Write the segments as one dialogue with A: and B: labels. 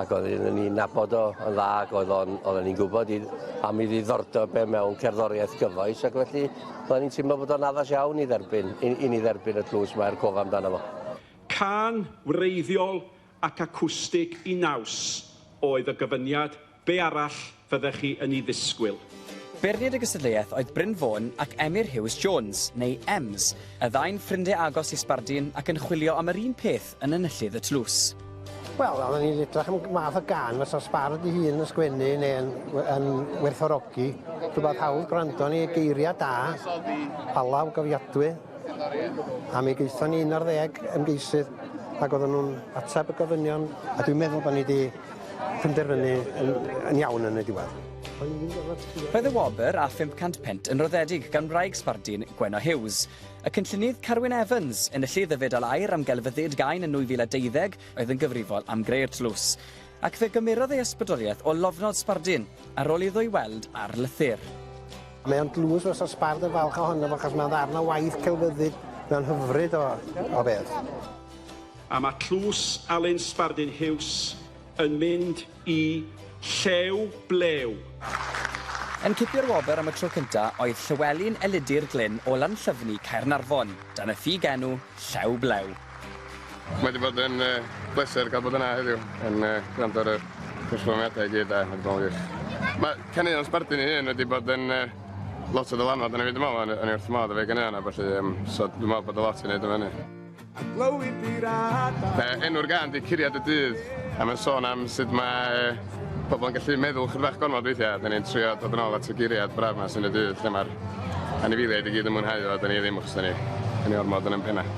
A: ac oedden ni'n nabod o yn dda ac oedd o'n oedden ni'n gwybod i am ei ddiddordeb e mewn cerddoriaeth gyfoes ac felly oedden ni'n teimlo bod o'n addas iawn i dderbyn i, i ni dderbyn y tlws mae er cof amdano fo. Cân wreiddiol ac acwstig i naws oedd y gyfyniad, be arall fyddech chi yn ei ddisgwyl. Beirniad y gystadleuaeth oedd Bryn Fôn ac Emyr Huws Jones, neu Ems, y ddau'n ffrindie agos i sbardun ac yn chwilio am yr un peth yn Enillydd y Tlws. Wel, oedden ni'n edrych am math o gan fysa sbard ei hun yn sgwennu neu'n yn werthorogi. Rhywbeth hawdd gwrando ni, geiriau da, palaw gofiadwy. A mi gaethon ni un ar ddeg ymgeisydd ac oedden nhw'n ateb y gofynion a dwi'n meddwl bod ni wedi penderfynu yn yn iawn yn y diwedd. Roedd y wobr â 500 punt yn roddedig gan wraig Sbardun, Gwenno Hughes. Y cynllunydd Carwyn Evans, enillydd y Fedal Aur am Gelfyddyd Gain yn 2012, oedd yn gyfrifol am greu'r tlws. Ac fe gymerodd ei ysbrydoliaeth o lofnod Sbardun, ar ôl iddo ei weld ar lythyr. Mae o'n dlws fysa Sbard yn falch ohono fo achos mae'n ddarn o waith celfyddyd, mae'n hyfryd o o beth. A mae tlws Alun Sbardun Huws yn mynd i Llew Blew! Yn cipio'r wobr am y tro cynta oedd Llywelyn Elidir Glyn o Lanllyfni, Caernarfon, dan y ffug enw Llew Blew. Mae wedi bod yn bleser cael bod yna heddiw yn gwrando ar y perfformiadau i gyd a mae wedi bod yn wych. Mae caneuon Sbardun ei hun wedi bod yn lot o ddylanwad arna fi dwi'n meddwl, o'n i wrth fy modd efo'i ganeuon a ballu, so dwi'n meddwl bod o lot i wneud efo hynny. Enw'r gân 'di Curiad y Dydd a mae'n sôn am sut mae pobl yn gallu meddwl ychydig bach gormod weithiau a 'dan ni'n trio dod yn ôl at y geiriad braf 'ma sy'n y dydd lle mae'r anifeiliaid i gyd yn mwynhau o a 'dan ni ddim achos 'dan ni yn ei ormod yn ein pennau.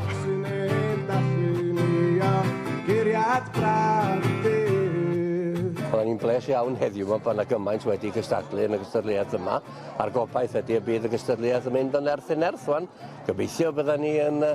A: Roedd hi'n bles iawn heddiw 'ma bod 'na gymaint wedi cystadlu yn y gystadleuaeth yma a'r gobaith ydi y bydd y gystadleuaeth yn mynd o nerth i nerth 'wan. Gobeithio byddan ni yn yy